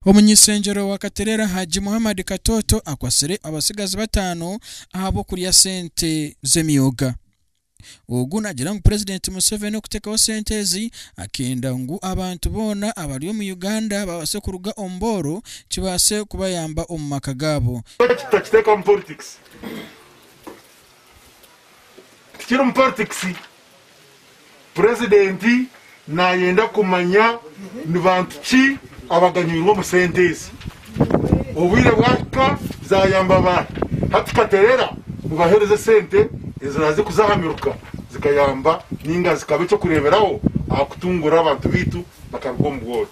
Omuny'ishengyero wa Katerera Hajji Muhammad Katoto akwatsire abatsigazi bataano ahabw'okurya sente z'emyoga. Ogu nagira ngu Purezidenti Museveni okutekaho sente ezi akenda ngu abantu boona abari omu Uganda babase kuruga omu booro kibase kubayamba omu maka gaabo. Lwaki tutakitekamu politics? Tikirimu politics. Purezidenti Naayenda kumanya ni bantu ki abaganyirwa omu sente ezi. Obwire bwahika zaayamba baahi? Hati katerera mubaheereze esente eziraaze kuza aha miruka zikayamba nainga zikaba eky'okureeberaho aha kutunguura abantu baitu bakaruga omu bworo.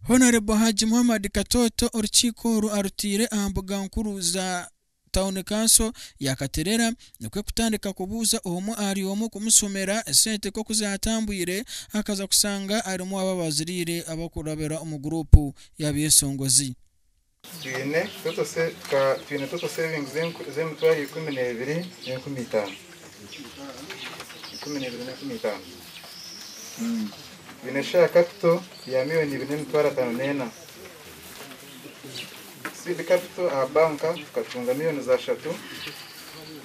Honourable Hajji Muhammad Katooto orukiiko oru arutaire aha mbuga nkuru za Town Council ya Katerera nikwo kutandika kubuuza omwe ahari omwe kumushomera esente nk'oku zaatambwire akaza kushanga arimu abo abaaziriire abarikurabira omu guruupu y'abeeshongozi. Twine total savings z'emitwaro ikumi n'ebiri n'enkumi itaano. Twine share capital ya million ibiri n'emitwaro ataano n'ena. Seed capital aha banka tukacunga million ishatu.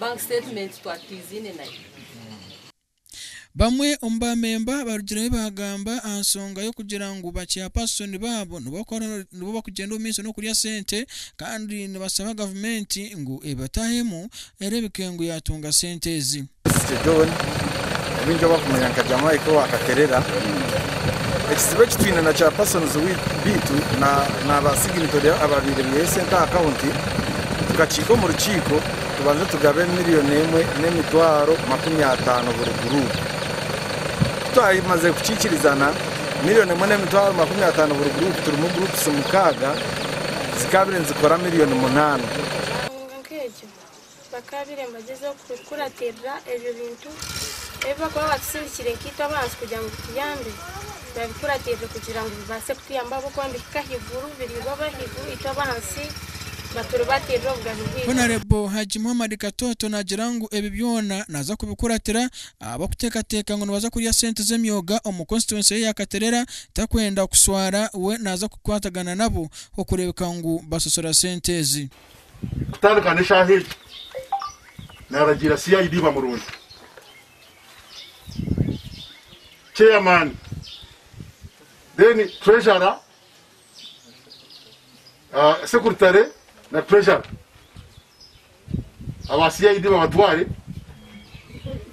Bank statement twari twiziine nayo. Bamwe omu baamemba barugireho baagamba aha nsonga y'okugira ngu bakyapasitoni baabo nibo bakugyenda omu maisho n'okurya sente kandi nibasaba gavumenti ngu ebatahemu ereebeke ngu yaatunga sente ezi. Mr John, abaingi ou barikumanya nka Jamaica owa Katerera, Ekizibu eki twine na kyapasoni baitu na ba siginitore abaabaire baihayo sente aha kaunti, Tukakiika omu rukiiko tubanze tugabe miriyoni emwe n'emitwaro makumi ataano buri guruupu. Ku twamazire kukiikirizana miriyoni emwe n'emitwaro makumi ataano buri guruupu turimu guruupusi mukaaga zikaabire nizikora miriyoni munaana. Bakaabaire nibagyeza kukuratirira ebyo bintu ebi bakuba baatusindikire nkaitwe abantu kugira ngu bituyambe, babikuratirire kugira ngu bibaase kutuyamba ahabw'okuba nibihika ahaiguru, biriibwa ab'ahaiguru, itwe ab'ahansi baturibatirire obugabe bwaitu. Honarebo Hajji Muhammad Katoto naagira ngu ebi byona naaza kubikuratira ahabw'okuteekateeka ngu nibaza kurya sente z'emyoga omu konsituwensi ye ya Katerera takwenda kushwara we naaza kukwatagana nabo okureebeka ngu basasura sente ezi. kutandika n'eshaaha egi, naaragiira CID bamurooye. Chairman, then Treasurer, ah, Secretary na Treasurer. Aba CID babatware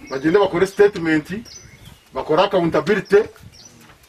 bagyende bakore statement, bakore accountability,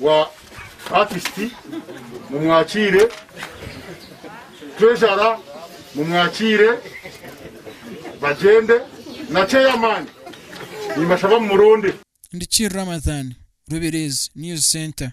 wa Akisiti, mumwakiire, Turejara, mumwakiire, bagyende, na Ceyamaani, nimbashaba mumurunde. Ndi Kir Ramathan, Rubirizi News Centre.